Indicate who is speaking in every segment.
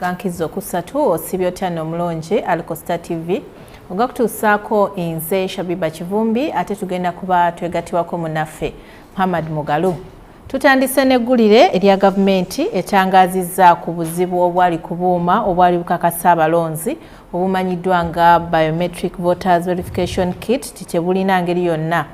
Speaker 1: gankiza okusatu osibye otya nomulungi alikosta tv oga kutuusaako nze shabiba kivumbi ate tugenda kuba twegatiwako munaffe muhammad mugalu tutandise neggulire erya gavumenti etangaazizza ku buzibu obwali ku buuma obwali bukakasa abalonzi obumanyiddwa nga biometric voters verification kit ti tebulina ngeri yonna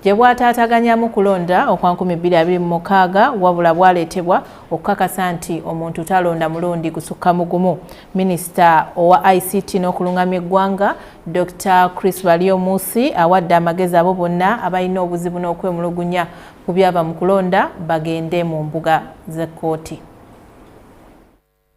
Speaker 1: gye bwataataganyamu kulonda okwa 2026 wabula bwaleetebwa okukakasa nti omuntu talonda mulundi gusukka mu gumu minisita owa ict n'okulungamya eggwanga dr chris baliomusi awadde amagezi abo bonna abalina obuzibu n'okwemulugunya ku byava mu kulonda bagende mu mbuga z'ekkooti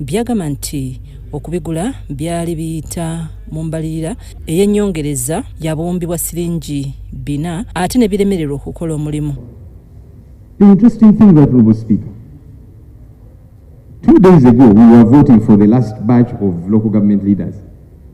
Speaker 2: byagamba nti okubigula byali biyita mu mbalirira ey'ennyongereza ya buwumbi bwa siringi bina ate ne biremererwa okukola omulimu
Speaker 3: The interesting thing that Honorable Speaker, two days ago we were voting for the last batch of local government leaders.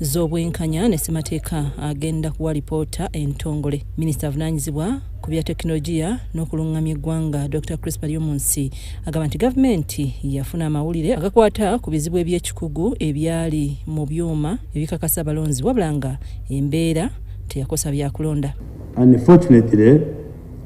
Speaker 2: z'obwenkanya ne ssemateeka agenda kuwa lipoota entongole minisita avunaanyizibwa ku bya tekinologiya n'okulungamya eggwanga dr crispa lyomunsi agamba nti gavumenti yafuna amawulire agakwata ku bizibu eby'ekikugu ebyali mu byuma ebikakasa abalonzi wabula nga embeera teyakosa byakulonda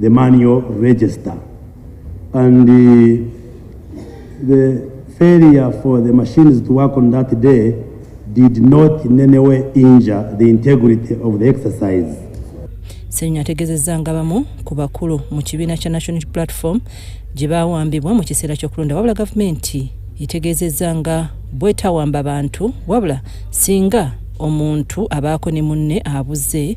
Speaker 4: the manual register and the, the failure for the machines to work on that day did not in any way injure the integrity of the exercise. Senya
Speaker 2: ategezezza nga bamu ku bakulu mu kibiina kya National Platform gye baawambibwa mu kiseera ky'okulonda wabula gavumenti etegeezezza nga bwetawamba bantu wabula singa omuntu abaako ne munne abuze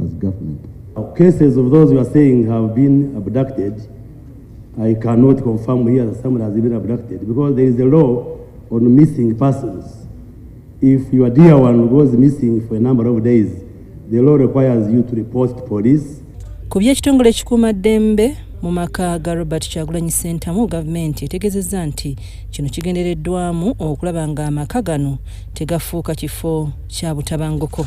Speaker 5: as government. Cases of
Speaker 4: those you are saying have been abducted, I cannot confirm here that someone has been abducted because there is a law on missing persons. If your dear one goes missing for a number of days, the law requires you to report to police. Ku by'ekitongole
Speaker 2: ekikuuma ddembe mu maka ga robert kyagulanyi sentamu gavumenti etegezezza nti kino kigendereddwamu okulaba nga amaka gano tegafuuka kifo kya butabanguko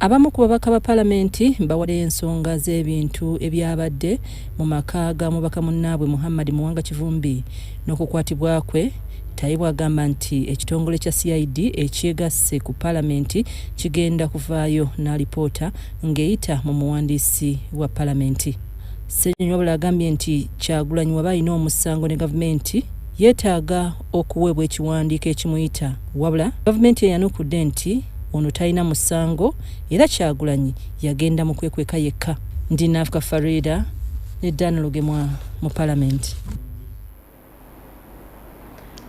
Speaker 4: Abamu ku babaka
Speaker 2: ba palamenti bawadde ensonga z'ebintu ebyabadde mu maka ga mubaka munnaabwe Muhammad Muwanga Kivumbi n'okukwatibwa kwe. Tayebwa agamba nti ekitongole kya CID ekyegasse ku palamenti kigenda kuvaayo n'alipoota ng'eyita mu muwandiisi wa palamenti. Ssenyonyi wabula agambye nti Kyagulanyi waba alina omusango ne gavumenti, yeetaaga okuweebwa ekiwandiiko ekimuyita wabula gavumenti eyanukudde nti ono talina musango era Kyagulanyi yagenda mu kwekweka yekka. Ndi Nafka Faridah ne Dan Lugemwa mu Palamenti.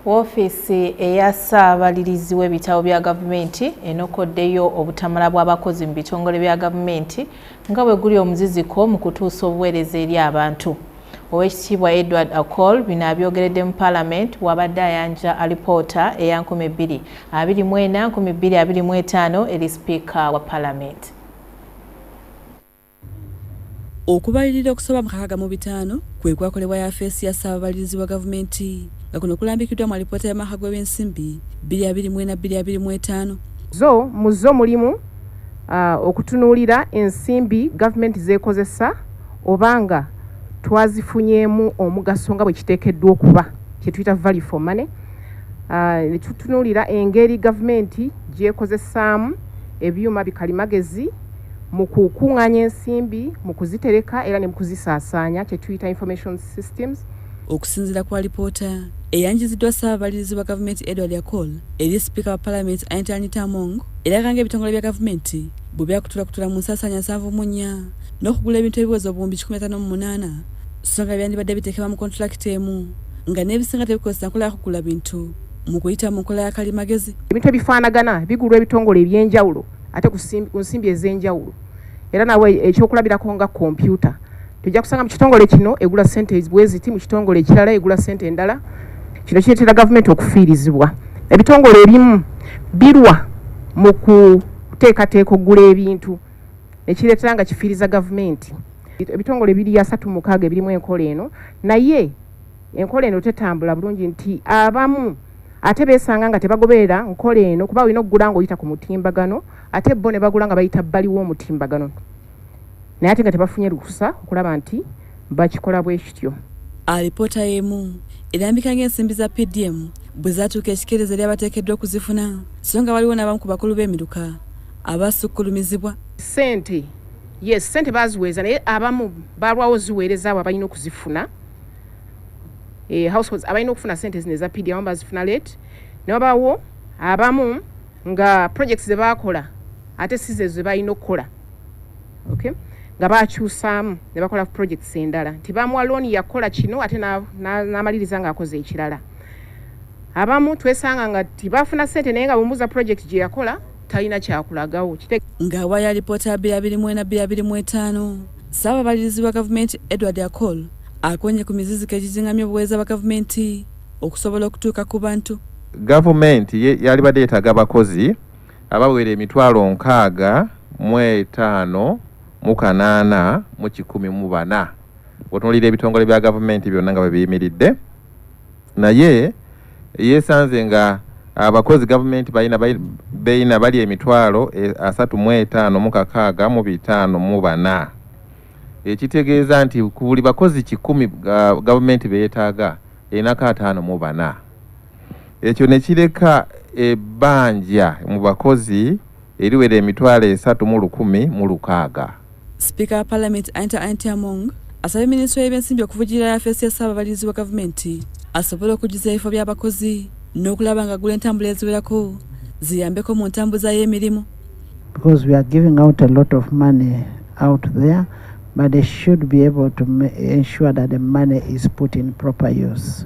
Speaker 1: Woofiisi eya ssaabalirizi w'ebitabo bya gavumenti enokoddeyo obutamala bw'abakozi mu bitongole bya gavumenti nga bwe guli omuziziko mu kutuusa obuweereza eri abantu. Owekitiibwa Edward Akol bino abyogeredde mu Parliament wabadde ayanja alipoota eya 2024 2025 eri sipiika wa Parliament.
Speaker 6: Okubalirira okusaba mu kakaga mu bitaano kwe kwakolebwa yafeesi ya ssaababalirizi wa gavumenti nga kuno kulambikiddwa mu alipoota y'amaka gw'ebyensimbi 2024-2025 zo
Speaker 7: mu zo mulimu uh, okutunuulira ensimbi gavumenti z'ekozesa oba nga twazifunyeemu omugaso nga bwe kiteekeddwa okuba kye tuyita value for money ah, ne tutunuulira engeri gavumenti gy'ekozesaamu ebyuma bikalimagezi mu kukuŋŋaanya ensimbi mu kuzitereka era ne mu kuzisaasaanya kye tuyita information systems okusinzira ku
Speaker 6: alipoota eyanjiziddwa ssaababalirizi wa gavumenti edward akol eri sipiika wa palamenti anita anita among eraga nga ebitongole bya gavumenti bwe byakutulakutula mu nsaasaanya nsanvu mu nnya n'okugula ebintu ebiweza obuwumbi kikumi ataano mu munaana so nga byandibadde biteekebwa mu kontulakiti emu nga n'ebisinga tebikozesa nkola yakugula bintu mu kuyita mu nkola ya kalimagezi ebintu ebifaanagana
Speaker 7: bigulwa ebitongole eby'enjawulo ate ku nsimbi ez'enjawulo era nawe ekyokulabirako nga kompyuta tojja kusanga mu kitongole kino egula sente bweziti mu kitongole ekirala egula sente endala kino kireetera gavumenti okufiirizibwa ebitongole ebimu birwa mu kuteekateeka okugula ebintu nekireetera nga kifiiriza gavumenti ebitongole ebiri asatu mukaaga ebirimu enkola eno naye enkola eno tetambula bulungi nti abamu ate beesanga nga tebagoberera nkola eno kuba olina okugula nga oyita ku mutimbagano ate bo ne bagula nga bayita bbaliwo omutimbagano naye ate nga tebafunye lukusa okulaba nti bakikola bwe kityo. Alipoota
Speaker 6: y'emu erambika ng'ensimbi za PDM bwe zaatuuka ekikeerezi eri abateekeddwa okuzifuna so nga waliwo n'abamu ku bakulu b'emiruka abaasukkulumizibwa. Ssente
Speaker 7: yes ssente baaziweeza naye abamu baalwawo ziweereza abo abalina okuzifuna eh, households abalina okufuna ssente zino eza PDM abamu bazifuna late ne wabaawo abamu nga projects ze baakola ate si zezo ze balina okukola. okay nga bakyusaamu ne bakola projects endala nti bamuwa looni yakukola kino ate n'amaliriza ng'akoze ekirala abamu twesanga nga tibafuna sente naye nga bumuza project gye yakola talina kyakulagawo ng'awa ya
Speaker 6: lipoota ya bira birimu ena bira birimu etaano ssaababalirizi wa gavumenti edward acol akonye ku miziziko egizingamya obuweereza bwa gavumenti okusobola okutuuka ku bantu gavumenti
Speaker 8: yalibadde yetaaga abakozi abawera emitwalo nkaaga mu etaano mu kanaana mu kikumi mu bana otunulira ebitongole bya gavumenti byonna nga bwe biyimiridde naye yeesanze nga abakozi gavumenti balina beina bali emitwalo e, asatu mu etaano mu kakaaga mu bitaano mu bana ekitegeeza nti ku buli bakozi kikumi gavumenti beetaaga enako ataano mu bana ekyo ne kireka ebbanja mu bakozi eriwera emitwalo esatu mu lukumi mu lukaaga sipiika wa
Speaker 6: palamenti anita anti among asabye minisitule y'ebyensimbi okuvujirira yafeesi ya ssaababalirizi wa gavumenti asobole okujjuza ebifo by'abakozi n'okulaba nga gula entambula eziwerako ziyambeko mu ntambuza y'emirimu because we are
Speaker 9: giving out a lot of money out there but they should be able to ensure that the money is put in proper use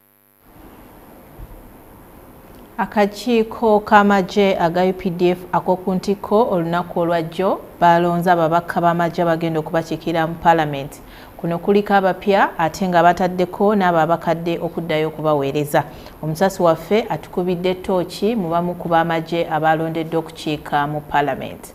Speaker 1: Akakiiko k'amagye aga updf ak'oku ntikko olunaku olwajjo baalonze ababaka b'amagye abagenda okubakiikirira mu palamenti. Kuno kuliko abapya ate nga bataddeko n'abo abakadde okuddayo okubaweereza. Omusasi waffe atukubidde ttooki mu bamu ku b'amagye abaalondeddwa okukiika mu palamenti.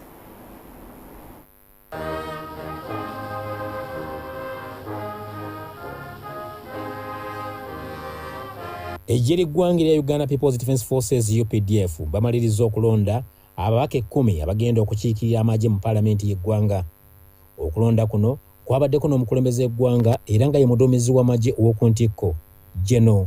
Speaker 10: Eggye ly'eggwanga erya Uganda People's Defence Forces UPDF bamalirizza okulonda ababaka ekkumi abagenda okukiikirira amagye mu paalamenti y'eggwanga. Okulonda kuno kwabaddeko n'omukulembeze w'eggwanga era nga ye muduumizi w'amagye ow'oku ntikko, Gen.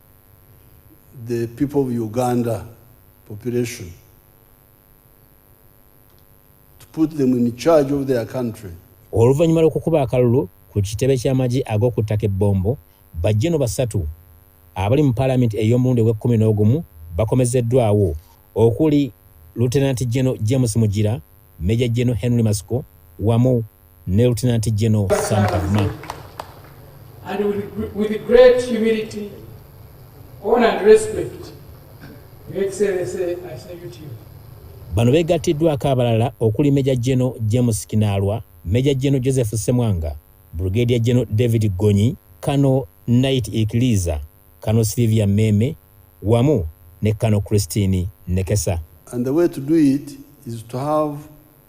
Speaker 11: the people of Uganda population to put them in charge of their country. Oluvannyuma lw'okukuba
Speaker 10: akalulu ku kitebe ky'amagye ag'oku ttaka ebbombo, bajjeno basatu abali mu palamenti ey'omulundi ogw'ekkumi n'ogumu bakomezeddwawo okuli Lutenanti Jeno James Mugira, Meja Jeno Henry Masiko wamu ne Lieutenant General Sam Kavuma. And
Speaker 12: with, with great humility, honor and respect, Your Excellency, I salute you. Bano
Speaker 10: beegattiddwako abalala okuli Meja General James Kinaalwa, Meja General Joseph Semwanga, Brigadier General David Gonyi, Kano Knight Ikiliza, Kano Sylvia Meme, wamu ne Kano Christine Nekesa. And the way to do
Speaker 11: it is to have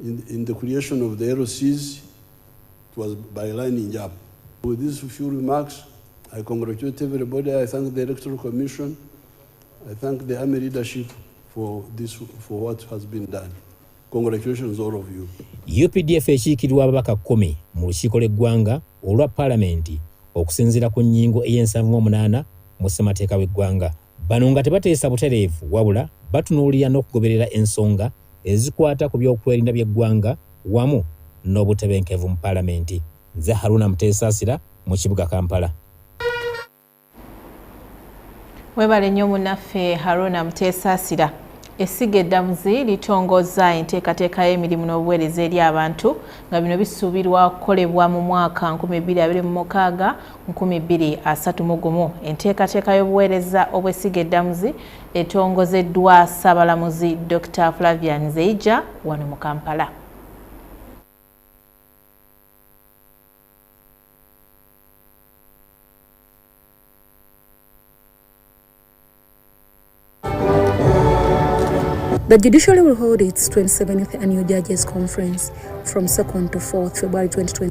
Speaker 11: In, in the creation of the LCs, it was by lining up. With these few remarks, I congratulate everybody. I thank the Electoral Commission. I thank the army leadership for, this, for what has been done. Congratulations all of you. UPDF ekiikirwa
Speaker 10: ababaka kumi mu lukiiko lw'eggwanga olwa palamenti okusinziira ku nnyingo ey'ensanvu mu munaana mu ssemateeka w'eggwanga. Bano nga tebateesa butereevu wabula batunuulira n'okugoberera ensonga ezikwata ku by'okwerinda by'eggwanga wamu n'obutebenkevu mu Palamenti. Nze Haruna Muteesaasira mu kibuga Kampala.
Speaker 1: Webale nnyo munaffe Haruna Muteesaasira. Essiga eddamuzi litongozza enteekateeka y'emirimu n'obuweereza eri abantu nga bino bisuubirwa okukolebwa mu mwaka 2026 nkumi bbiri asatu mu gumu enteekateeka y'obuweereza obw'essiga eddamuzi etongozeddwa Ssaabalamuzi Dokita Flavian Zeija wano mu Kampala.
Speaker 13: The judiciary will hold its 27th annual judges conference from 2nd to 4th February 2020.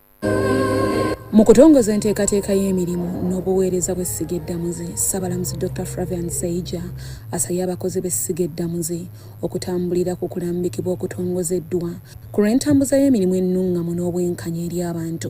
Speaker 13: Mu kutongoza enteekateeka y'emirimu n'obuweereza bw'essiga eddamuzi, Ssabalamuzi Dokita Flavian Seija asabye abakozi b'essiga eddamuzi okutambulira ku kulambikibwa okutongozeddwa ku lw'entambuza y'emirimu ennungamu n'obwenkanya eri abantu.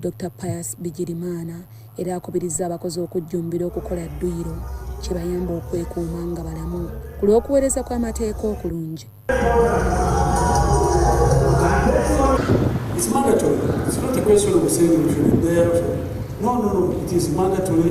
Speaker 13: Dokita Pius Bigirimana era akubirizza abakozi okujjumbira okukola dduyiro kibayambe okwekuuma nga balamu ku lw'okuweereza kw'amateeka okulungi.
Speaker 14: It's mandatory. It's not a question of saying you should be there. No, no, no. It is mandatory.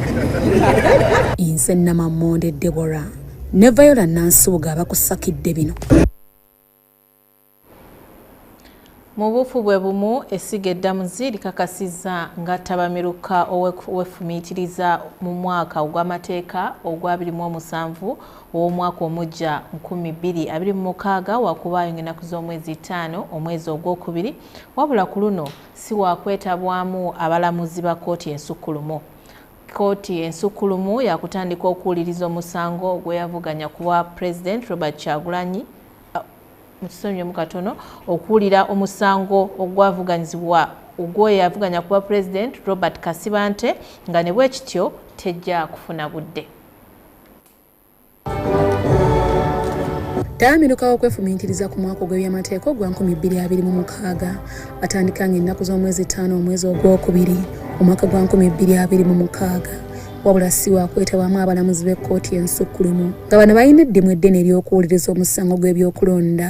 Speaker 13: inse namamonde debora ne viola nansubuga abakusakidde bino
Speaker 1: mu buufu bwe bumu essiga eddamuzi likakasizza nga ttabamiruka owefumiitiriza mu mwaka ogw'amateeka ogwa 27 ow'omwaka omujja 2026 wakuba ayonga ennaku z'omwezi ttaano omwezi ogwokubiri wabula ku luno si waakwetabwamu abalamuzi ba kkooti ensukkulumu. Kkooti ensukkulumu yaakutandika okuwuliriza omusango gwe yavuganya ku bwa Pulezidenti Robert Kyagulanyi mukisonyiwemu katono okuwulira omusango ogwavuganyizibwa ogwoyo yavuganya kuba president robert kasibante nga ne bwekityo tejja kufuna budde
Speaker 13: Tayamiruka okwefumiitiriza ku mwaka ogw'ebyamateeka ogwa 2026 atandika nga ennaku z'omwezi ttaano omwezi ogwokubiri omwaka gwa 2026 wabula si wakwetabamu abalamuzi b'ekkooti ensukkulumu nga bano balina eddimu eddene ery'okuwuliriza omusango gw'ebyokulonda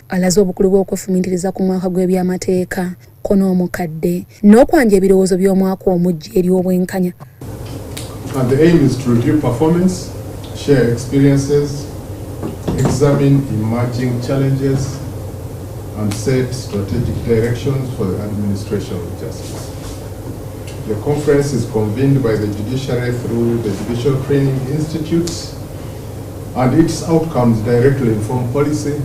Speaker 13: alaze obukulu bw'okwefumiitiriza ku mwaka gw'ebyamateeka ko n'omukadde n'okwanja ebirowoozo by'omwaka omujja eri obwenkanya
Speaker 15: And the aim is to review performance, share experiences, examine emerging challenges, and set strategic directions for the administration of justice. The conference is convened by the judiciary through the Judicial Training Institutes and its outcomes directly inform policy,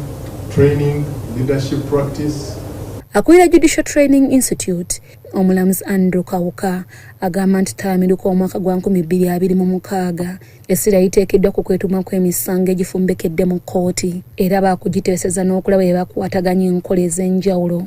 Speaker 15: training, leadership practice, Akulira
Speaker 13: Judicial Training Institute omulamuzi Andrew Kawuka agamba nti ttalamiruka omwaka gwa nkumi bbiri abiri mu mukaaga essira liteekeddwa ku kwetuuma kw'emisango egifumbekedde mu kkooti era baakugiteeseza n'okulaba bye bakwataganya enkola ez'enjawulo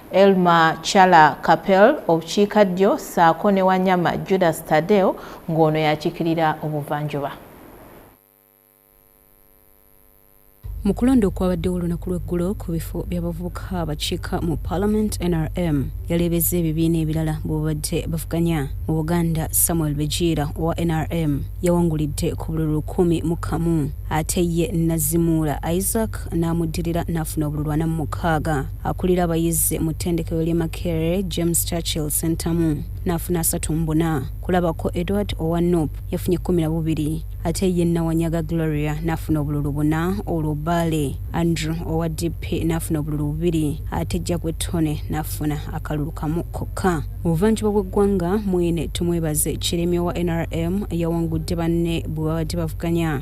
Speaker 1: Elma Chala Kapel obukiika ddyo ssaako ne Wanyama Judas Tadeo ng'ono yakikirira obuvanjuba.
Speaker 16: mu kulonda okwabaddewo olunaku lw'eggulo ku bifo by'abavubuka abakiika mu parliament nrm yaleebeza ebibiina ebirala bwebabadde bavuganya mu buganda samuel bejiira owa nrm yawangulidde ku bululu lukumi mu kamu ate ye nazimuula isaac n'amuddirira n'afuna obululu ana mu mukaaga akulira abayizi mu ttendekero ly'e Makerere James Churchill Ssentamu n'afuna asatu mu buna kulabako Edward owa nup yafunye kkumi na bubiri ate ye Nawanyaga Gloria n'afuna obululu buna olwo Bbaale Andrew owa DP n'afuna obululu bubiri ate Jjagwe Tone n'afuna akalulu kamu kokka mu buvanjuba bw'eggwanga mwine Tumwebaze Kiremya owa nrm yawangudde banne bwe babadde bavuganya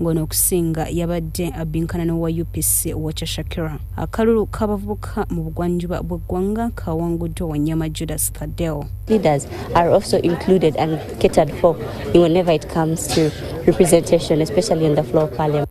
Speaker 16: ng'ono okusinga yabadde abbinkana n'owa UPC Wacha Shakira. Akalulu k'abavubuka mu bugwanjuba bw'eggwanga kawanguddwa Wanyama Judas Thaddeo. Leaders are
Speaker 17: also included and catered for whenever it comes to representation, especially on the floor of parliament.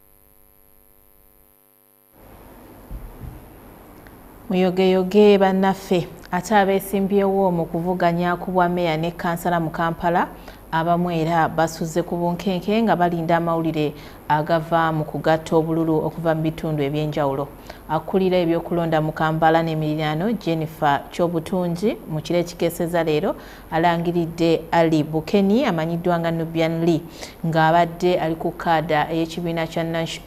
Speaker 1: muyogeyoge bannaffe ate abeesimbyewo mu kuvuganya ku bwa meeya ne kansala mu kampala abamu era basuze ku bunkenke nga balinda amawulire agava mu kugatta obululu okuva mu bitundu eby'enjawulo akulira ebyokulonda mu kampala n'emiriraano jennifer kyobutungi mu kiro ekikeeseza leero alangiridde ali bukeni amanyiddwa nga nubian lee ng'abadde ali ku kaada ey'ekibiina kya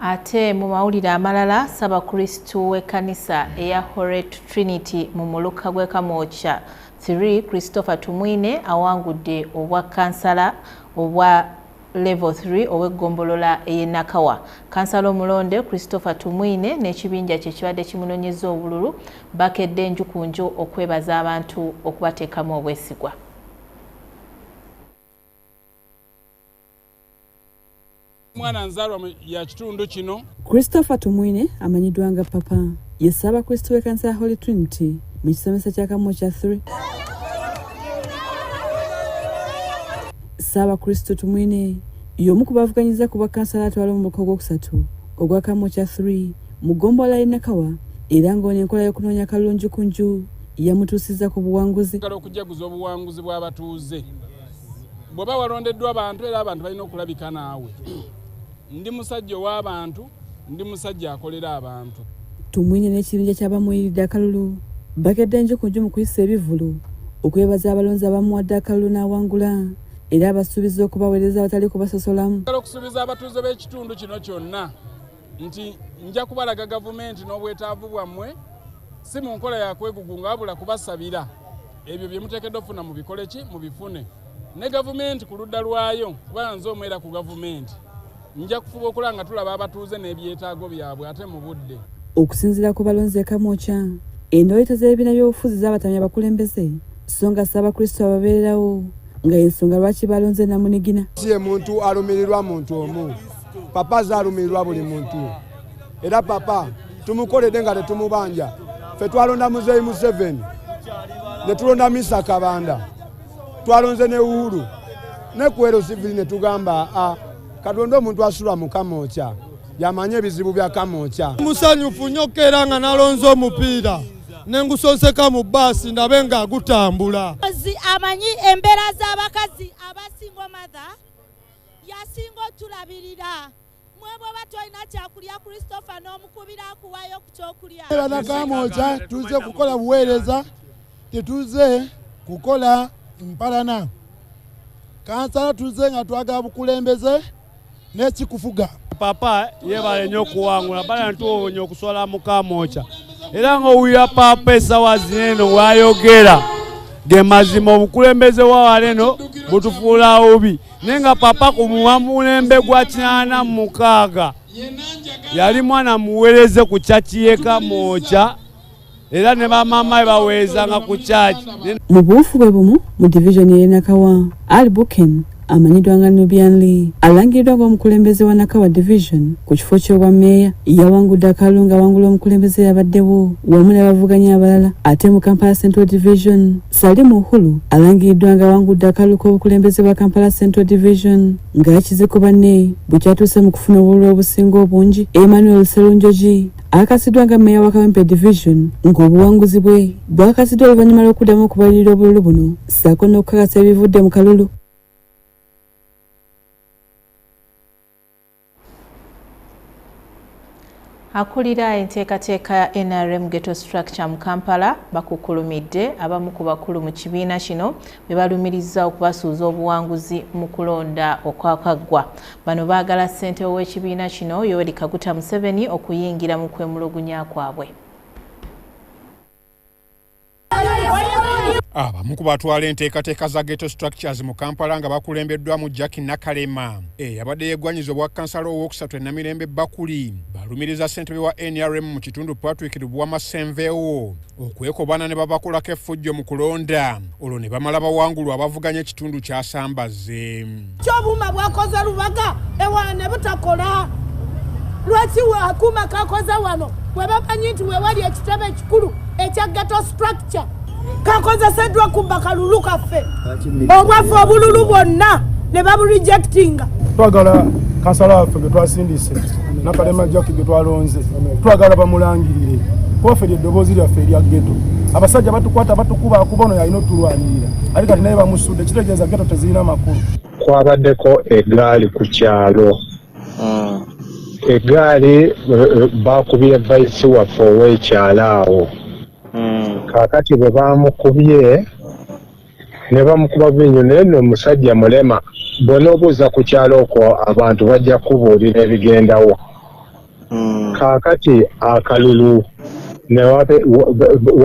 Speaker 1: Ate mu mawulire amalala ssabakristu w'ekkanisa eya Horet Trinity mu muluka gw'e Kamwokya 3 Christopher Tumwine awangudde obwa kansala obwa level 3 ow'eggombolola ey'e Nakawa. Kansala omulonde Christopher Tumwine n'ekibinja kye kibadde kimunonyeza obululu bakedde enju ku nju okwebaza abantu okubateekamu obwesigwa.
Speaker 18: mwana nzalwa ya kitundu kino christopher tumwine
Speaker 6: amanyiddwa nga papa yessa abakristu b'ekanisa ya holy trinity mu kisomesa kya kamu kya 3 ssaabakristu tumwine y'omu ku bavuganyiza ku bwakkansala atwala omubaka ogwokusatu ogwa kamu kya 3 mu ggombolola y'e nakawa era ng'ono enkola y'okunoonya kalungi ku nju yamutuusizza ku buwanguzi okujjaguza obuwanguzi
Speaker 18: bw'abatuuze bw'oba walondeddwa abantu era abantu balina okulabika naawe ndi musajja ow'abantu ndi musajja akolera abantu tumwine n'ekibinja
Speaker 6: ky'abamuyiride akalulu bakedde nju ku nju mu kuyisa ebivulu okwebaza abalonzi abamuwadde akalulu n'awangula era abasuubiza okubaweereza abatali kubasosolamu okusuubiza abatuuze
Speaker 18: b'ekitundu kino kyonna nti nja kubalaga gavumenti n'obwetaavu bwammwe si mu nkola ya kwegugunga wabula kubasabira ebyo bye muteekeddwa okufuna mu bikole ki mu bifune ne gavumenti ku ludda lwayo kuba nze omwera ku gavumenti nja kufuba okula nga tulaba abatuuze n'ebyetaago byabwe ate mu budde okusinzira ku
Speaker 6: balonzi ekamwokya endoyeta z'ebibiina by'obufuzi z'abatamya abakulembeze so nga ssaabakristo ababeererawo nga y'ensonga lwaki balonze namunigina si ye muntu
Speaker 19: alumirirwa muntu omu papa aze alumirirwa buli muntu era papa tumukoledde nga tetumubanja fe twalonda muzeeyi museveni ne tulonda misa kabanda twalonze ne uhuru ne kuero sivili ne tugamba a katonda omuntu asula mu kamokya yamanyi ebizibu bya kamokya musanyufu nnyo
Speaker 20: keera nga nalonze omupiira ne ngusonseka mu baasi ndabe nga agutambula amanyi
Speaker 21: embeera z'abakazi abasingo matha yasinga otulabirira mwe bweba tolina kyakulya christopher n'omukubira akuwayo ku kyokulya banakamoja
Speaker 5: tuze kukola buweereza tetuze kukola mpalana kansala tuze nga twagala bukulembeze n'ekikufuga papa
Speaker 22: yebale nnyo okuwangula bala ntuwonye okuswala mukamokya era ng'owulira papa esawa zineeno wayogera ge mazima obukulembeze wawaleno butufuula obi naye nga papa ku muwamulembe gwa kinana mukaaga yali mwana muwereze ku kyaki yeka mwoca era ne bamama baweezanga ku kyaki mu buufu bwe
Speaker 6: bumu mu divisioni eyenakawa ali buken amanyiddwa nga nubian lee alangiddwa ng'omukulembeze wa nakawa division ku kifo ky'obwa meeya yawangudde akalunga awangula omukulembeze yabaddewo wamu n'abavuganya abalala ate mu kampala central division Salim Uhulu alangiriddwa nga awangudde akalulu k'obukulembeze bwa Kampala Central Division nga akize banne bwe kyatuuse mu kufuna obululu obusinga obungi. Emmanuel Serunjogi akasiddwa nga meeya wa Kawempe Division ng'obuwanguzi bwe bwakasiddwa oluvannyuma lw'okuddamu okubalirira obululu buno ssaako n'okukakasa ebivudde mu kalulu.
Speaker 1: Akulira enteekateeka ya nrm Ghetto Structure mu Kampala bakukkulumidde abamu ku bakulu mu kibiina kino be balumirizza okubasuuza obuwanguzi mu kulonda okwakaggwa. Bano baagala ssente w'ekibiina kino Yoweri Kaguta Museveni okuyingira mu kwemulugunya kwabwe.
Speaker 2: abamu ah, ku batwala enteekateeka za ghetto structures mu kampala nga bakulembeddwamu jack nakalema eyabadde eh, yegwanyiza obwa kansala owookusatu enamirembe bakuli balumiriza ssentebe wa nrm mu kitundu patrick lubuwama senvewo okwekobaana ne babakolako effujjo mu kulonda olwo ne bamala bawangulwa abavuganya ekitundu kyasambaze kyobuuma
Speaker 4: bwakoze lubaga ewa ne butakola lwaki akuuma kakoze wano bwe bamanyi nti wewali ekitebe ekikulu ekya geto structure kakozeseddwa kubba kalulu kaffe obwaffe obululu bwonna ne baburejectinga twagala
Speaker 19: kansala waffe ge twasindise nakalema jaki ge twalonze twagala bamulangirire kubaffe lyeddoboozi lyaffe erya geto abasajja batukwata batukuba akuba ono yalina otulwanirira ali kati naye bamusu ekitegeeza geto tezirina makulu kwabaddeko
Speaker 7: egaali ku kyalo hmm. egaali eh, eh, bakubye vaisi waffe ow'ekyalo awo hmm. kakati bwe bamukubye ne bamukuba binyo naye no omusajja mulema bw'onoobuuza ku kyalo okwo abantu bajja kubuulira ebigendawo mm. kaakati akalulu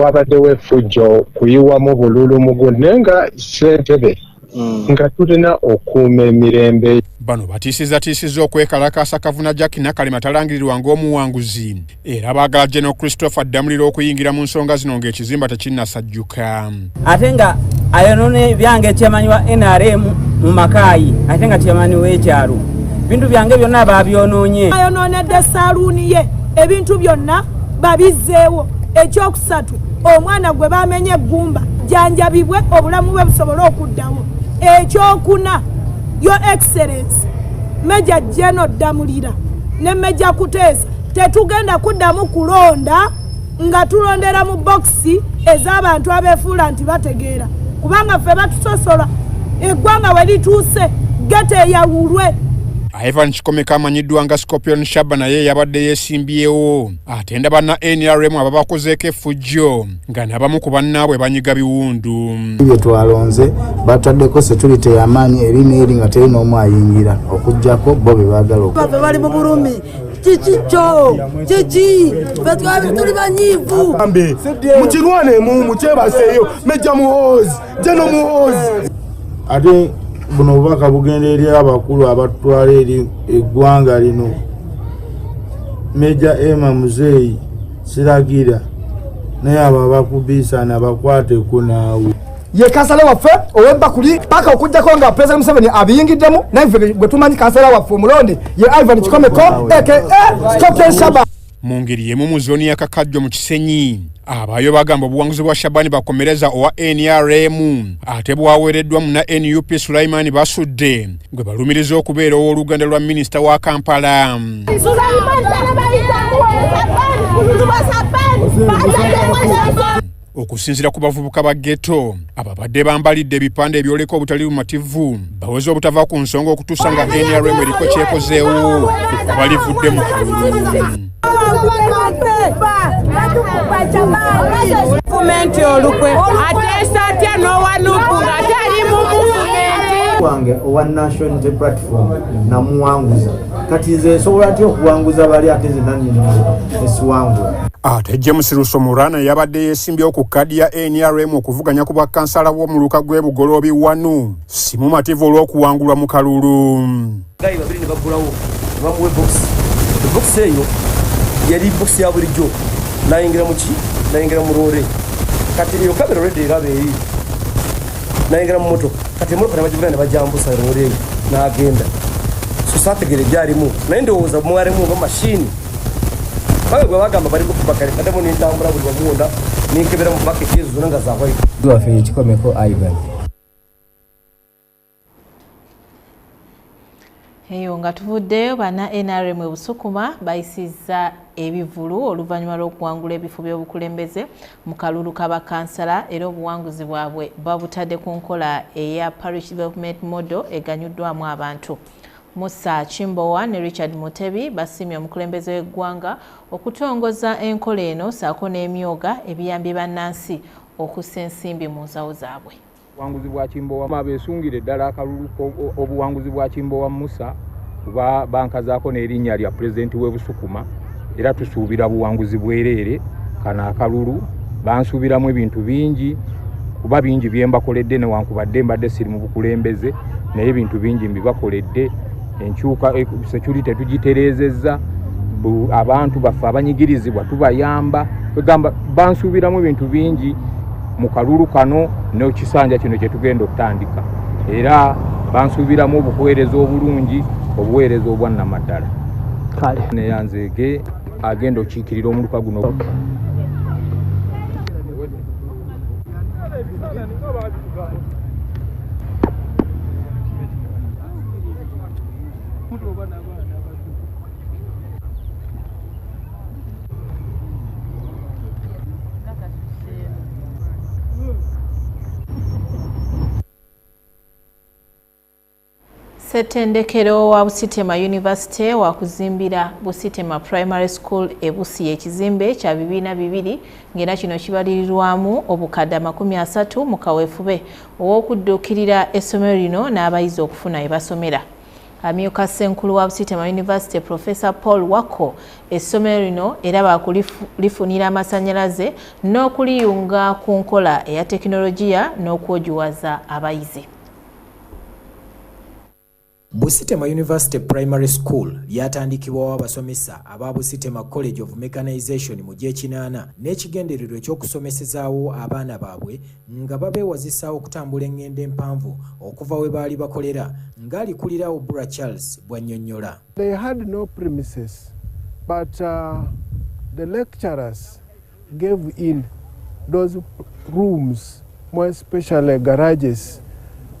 Speaker 7: wabaddewo efujjo kuyiwamu bululu mugu naye nga sentebe Mm. nga tulina okuuma emirembe bano batiisizatiisiza
Speaker 2: okwekalakaasa kavuna jack nakalema atalangirirwa ng'omuwanguzi era baagala general christopher ddamuliro okuyingira mu nsonga zino ng'ekizimba tekinnasajjuka ate nga
Speaker 8: ayonone byange chairman wa nrm mu makaayi ate nga chairman w'ekyalo bintu byange byonna babyononye ayononedde
Speaker 4: saluuni ye ebintu byonna babizzeewo ekyokusatu omwana gwe bamenye eggumba janjabibwe obulamu bwe busobole okuddawo ekyokuna yo excellence meja jeno ddamulira ne meja kuteesa tetugenda kuddamu kulonda nga tulondera mu bokisi ez'abantu abeefuula nti bategeera kubanga ffe batusosola eggwanga we lituuse gete eyawulwe Ivan
Speaker 2: Kikomeka amanyiddwa nga Scorpion Shaba naye yabadde yeesimbyewo atenda banna NRM ababakozeeko effujjo nga nabamu ku bannaabwe banyiga biwundu bye twalonze
Speaker 9: bataddeko security yamaanyi eri neeri nga teri n'omu ayingira okugyako bo be baagala bali mu bulumi
Speaker 4: kikico kiki fetwabe tuli banyivu ambe mukirwane
Speaker 19: mu mukyebaseeyo meja muhoozi jeno muhoozi ate
Speaker 9: buno obubaka bugenda eri abakulu abatwala eri eggwanga lino meja ema muzeeyi siragira naye abo abakubiisana bakwateko naawe ye kansala waffe
Speaker 19: ow'ebbakuli paka okujjako nga pulezidenti museveni abiyingiddemu naye ffe gwe tumanyi kansala waffe omulonde ye ivan kikomeko aka stoken shaba mu ngeri yemu mu
Speaker 2: zooni ya kakajjo mu kisenyi abaayo bagamba obuwanguzi bwa shabani bakomereza owa nrm ate bwaweereddwa mu na nup sulaimani basudde gwe balumiriza okubeera ow'oluganda lwa minisita wa kampala Sulaimani, Okusinzira ku bavubuka ba ghetto ababadde bambalidde ebipande ebyoleka obutali bumativu baweze obutava ku nsonga okutuusa nga nrm eriko kyekozeewo kuba balivudde mu kalulu
Speaker 4: gavumenti olukwe ateesa atya n'owanuku ng'ate ali mu gavumenti wange owa
Speaker 9: national unity platform namuwanguza kati nze nsobola ntya okuwanguza bali ate nze nanyini esiwangula ate
Speaker 2: james rusomurana yabadde yeesimbyewo ku kkaadi ya nrm okuvuganya ku bwakkansala bw'omuluka gw'e bugoloobi wanu si mumativu olw'okuwangulwa mu kalulu gayi babiri ne
Speaker 23: bagulawo ne bamuwa ebokisi ebokisi eyo yali bokisi ya bulijjo nayingira muki nayingira mu loole kati eyo kamera olwedde eraba eri nayingira mu motoka kati emotoka nabagivuna nebajambusa loole eyo nagenda so sategere byalimu naye ndowooza mwalimu nga mashini bawe bwe bagamba bali kukuba kale kademu nentambula buli wamuwona ninkebera mu baketi ezo zona nga zawaite wafe ekikomeko
Speaker 10: ivan
Speaker 1: eyo nga tuvuddeyo bana nrm ebusukuma bayisizza ebivulu oluvannyuma lw'okuwangula ebifo by'obukulembeze mu kalulu ka bakansala era obuwanguzi bwabwe babutadde ku nkola eya parish development model eganyuddwamu abantu musa kimbowa ne richard mutebi basiimye omukulembeze w'eggwanga okutongoza enkola eno saako n'emyoga ebiyambye bannansi okussa ensimbi mu nsawo zaabwe obuwanguzi bwa kimbowa
Speaker 11: abesungire ddala akalulu obuwanguzi bwa kimbowa musa kuba bankazaako n'erinnya lya pulezidenti w'e busukuma era tusuubira buwanguzi bwereere kano akalulu bansuubiramu ebintu bingi kuba bingi bye mbakoledde newankubadde mbadde siri mu bukulembeze naye ebintu bingi mbibakoledde enkyuka e, security tetugitereezezza abantu baffe abanyigirizibwa tubayamba egamba bansuubiramu ebintu bingi mu kalulu kano nekisanja kino kyetugenda okutandika era bansuubiramu obuweereza obulungi obuweereza obwannamaddala kale neyanzeege agenda okiikirira omuluka guno okay.
Speaker 1: ssettendekero wa busitema university wakuzimbira busitema primary school ebusi yekizimbe kya bibiina bibiri ng'era kino kibalirirwamu obukadde amakumi asatu mu kaweefube ow'okudduukirira essomero lino n'abayizi okufuna ebasomera Amyuka Ssenkulu wa Busitema University Professor Paul Wako essomero lino era baakulifunira amasannyalaze n'okuliyunga ku nkola eya tekinologiya n'okwogiwaza abayizi.
Speaker 12: Busitema University Primary School lyatandikibwawo abasomesa aba Busitema College of Mechanization mu gy'ekinaana n'ekigendererwa eky'okusomesezaawo abaana baabwe nga babeewazisa okutambula engendo empanvu okuva we baali bakolera ng'alikulira Obura Charles bw'annyonnyola. They had no
Speaker 19: premises but uh, the lecturers gave in those rooms more especially garages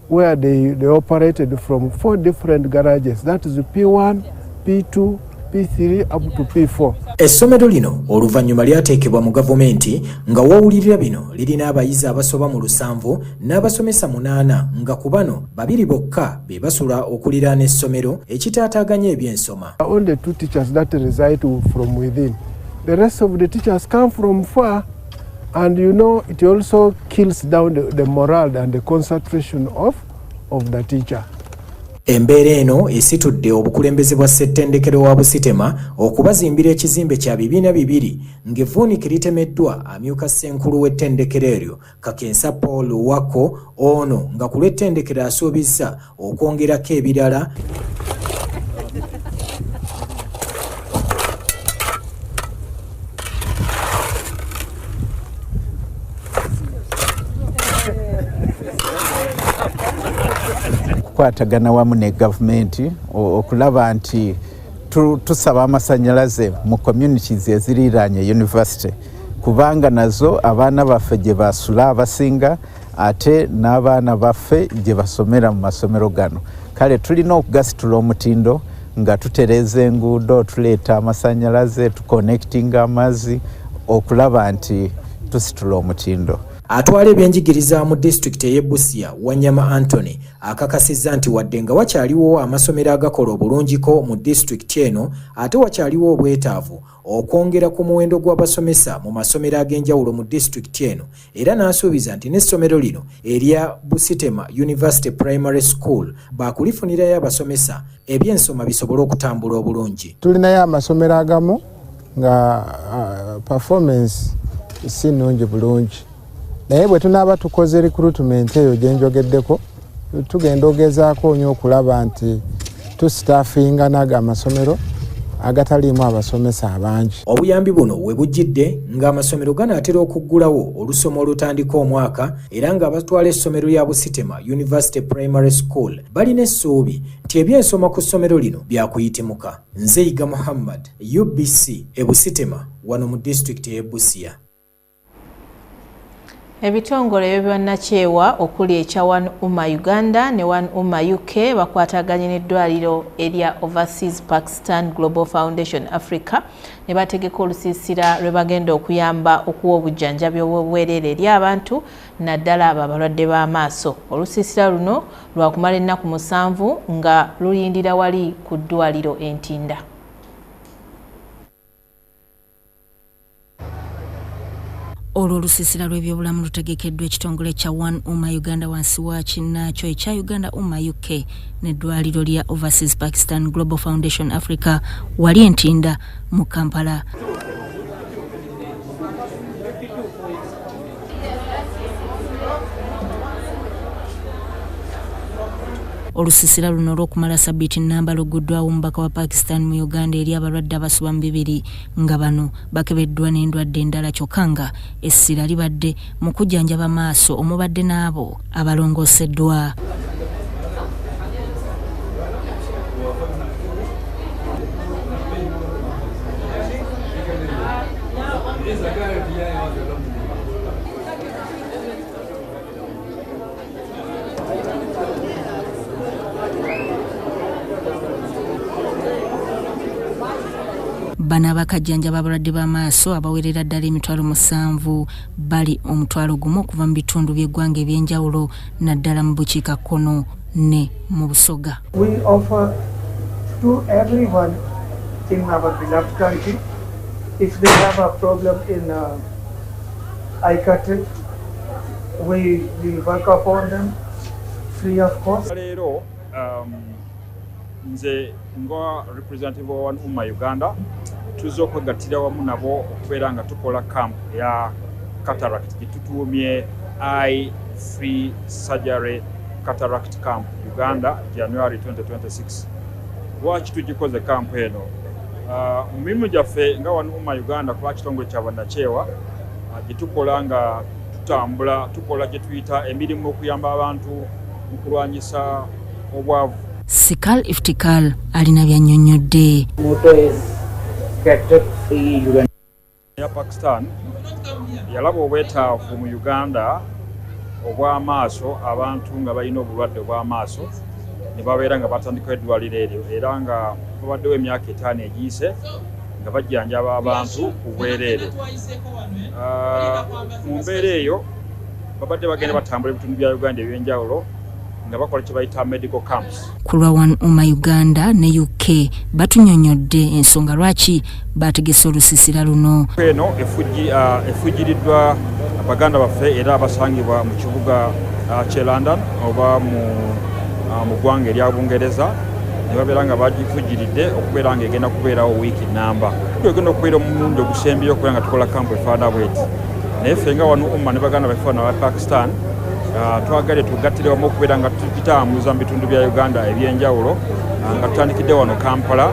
Speaker 19: where they, they operated from four different garages that is P1, P2, P3 up to P4. Essomero lino
Speaker 12: oluvannyuma lyateekebwa mu gavumenti nga wawulirira bino lirina abayizi abasoba mu lusanvu n'abasomesa munaana nga ku bano babiri bokka be basula okuliraana essomero ekitaataaganya ebyensoma. Only two teachers
Speaker 19: that reside from within. The rest of the teachers come from far. And you know, it also kills down the, the morale and the concentration of, of the teacher. Embeera
Speaker 12: eno esitudde obukulembeze bwa ssettendekero wa Busitema okubazimbira ekizimbe kya bibiina bibiri ng'evvuunike litemeddwa amyuka ssenkulu w'ettendekero eryo Kakensa Paul Wako ono nga ku lw'ettendekero asuubizza okwongerako ebirala
Speaker 24: okukwatagana wamu ne gavumenti okulaba nti tusaba amasanyalaze mu communities eziriraanye university kubanga nazo abaana baffe gye basula abasinga ate n'abaana baffe gye basomera mu masomero gano kale tulina okugasitula omutindo nga tutereeza enguudo tuleeta amasanyalaze tuconnectinga amazzi okulaba nti tusitula omutindo atwala
Speaker 12: ebyenjigiriza mu disitulikiti ey'e busia wanyama antony akakasizza nti wadde nga wakyaliwo amasomero agakola obulungiko mu disitulikiti eno ate wakyaliwo obwetaavu okwongera ku muwendo gw'abasomesa mu masomero ag'enjawulo mu disitulikiti eno era n'asuubiza nti n'essomero lino erya Busitema University Primary School baakulifunirayo abasomesa eby'ensoma bisobole okutambula
Speaker 19: obulungi.
Speaker 12: Tulinayo amasomero
Speaker 19: agamu
Speaker 12: nga
Speaker 3: uh, performance si nnungi bulungi. naye bwe tunaaba tukoze recruitment eyo gye njogeddeko tugenda ogezaako nyo okulaba nti tusitaafinga naga amasomero agataliimu abasomesa abangi obuyambi buno we
Speaker 12: bujjidde ng'amasomero ganaatera okuggulawo olusoma olutandika omwaka era ng'abatwala essomero lya busitema university primary school balina essuubi nti ebyensoma ku ssomero lino byakuyitimuka nzeyiga muhammad ubc e busitema wano mu disitulikiti y'e busia
Speaker 1: Ebitongole by'obwannakyewa okuli ekya One Umma Uganda ne One Umma UK bakwataganye n'eddwaliro erya Overseas Pakistan Global Foundation Africa ne bategeka olusiisira lwe bagenda okuyamba okuwa obujjanjabi obw'obwereere eri abantu naddala abo abalwadde b'amaaso. Olusiisira luno lwakumala ennaku musanvu nga luyindira wali ku ddwaliro e Ntinda.
Speaker 13: olwo olusiisira lw'ebyobulamu lutegekeddwa ekitongole kya one uma uganda wansi wa kinnaakyo ekya uganda uma uk n'eddwaliro lya overseas pakistan global foundation africa wali entinda mu kampala olusisira luno olw'okumala sabiti nnamba luguddwawo omubaka wa pakistan mu uganda eri abalwadde abasuba mu bibiri nga bano bakebeddwa n'endwadde endala kyokka nga essira libadde mu kujjanjaba maaso omubadde n'abo abalongoseddwa bano abakajjanjaba abalwadde b'amaaso abawerera ddala emitwalo musanvu bali omutwalo gumu okuva mu bitundu by'eggwanga eby'enjawulo naddala mu bukiika kkono ne mu busoga
Speaker 25: leero um,
Speaker 11: nze nga representative wa one umma uganda tuzze okwegattira wamu nabo okubeera nga tukola camp ya cataract gyetutuumye i free surgery cataract camp uganda january 2026 lwaki tugikoze camp eno ah, mu mirimu gyaffe nga wano uma uganda kuba kitongole kyabanakyewa ah, gyetukola nga tutambula tukola gyetuyita emirimu okuyamba abantu mu kulwanyisa obwavu. Sikal
Speaker 13: Iftikal alina by'annyonnyodde.
Speaker 11: ya Pakistan yalaba obwetaavu mu Uganda obw'amaaso abantu nga balina obulwadde obw'amaaso ne babeera nga batandikawo eddwaliro eryo era nga babaddewo emyaka etaano egiyise nga bajjanjaba abantu ku bwereere ah, mu mbeera eyo babadde bagenda batambula ebitundu bya uganda ebyenjawulo nga bakola kye bayita medical camps. Ku lwa One Uma
Speaker 13: Uganda ne UK batunyonyodde ensonga lwaki baategese olusisira luno. Eno uh,
Speaker 11: efujjiriddwa baganda baffe era abasangibwa mu kibuga uh, kye London oba mu uh, ggwanga erya Bungereza ne babeera nga bagifujjiridde okubeera nga egenda kubeerawo wiiki namba egenda okubeera omulundi ogusembyeyo okubeera nga tukola kampu efaana bweti naye ffe nga wano umma ne baganda baffe bano aba pakistan Ah, twagale tugattire wamu okubeera nga tukitambuza mu bitundu bya uganda ebyenjawulo ah, nga tutandikidde wano kampala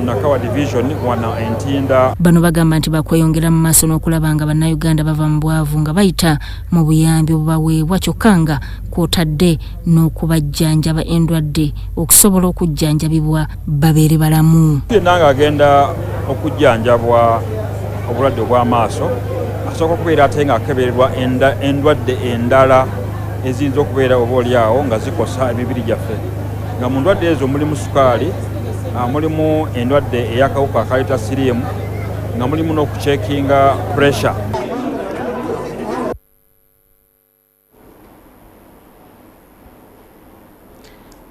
Speaker 11: nakawa division wana entinda bano bagamba nti
Speaker 13: bakweyongera mu maaso n'okulaba nga bannayuganda bava mu bwavu nga bayita mu buyambi obubaweebwa kyokka nga kwotadde n'okubajjanjaba endwadde okusobola okujjanjabibwa babeere balamu yenna ng'agenda
Speaker 11: okujjanjabwa obulwadde obw'amaaso asooka okubeera ate ng'akebererwa endwadde endala eziyinza okubeera oba oli awo nga zikosa emibiri gyaffe nga mu ndwadde ezo mulimu sukaali ah, mulimu endwadde ey'akawuka akaleeta siriimu nga mulimu n'okucekinga pressure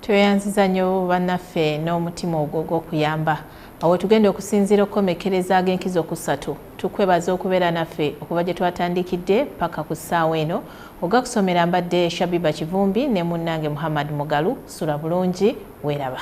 Speaker 1: tweyanziza nnyo bannaffe n'omutima ogwo gw'okuyamba awo tugenda okusinziira okukomekereza ag'enkizo kusatu tukwebaza okubeera naffe okuva gye twatandikidde paka ku ssaawa eno oga kusomera mbadde shabiba kivumbi ne munnange muhammad mugalu sula bulungi weeraba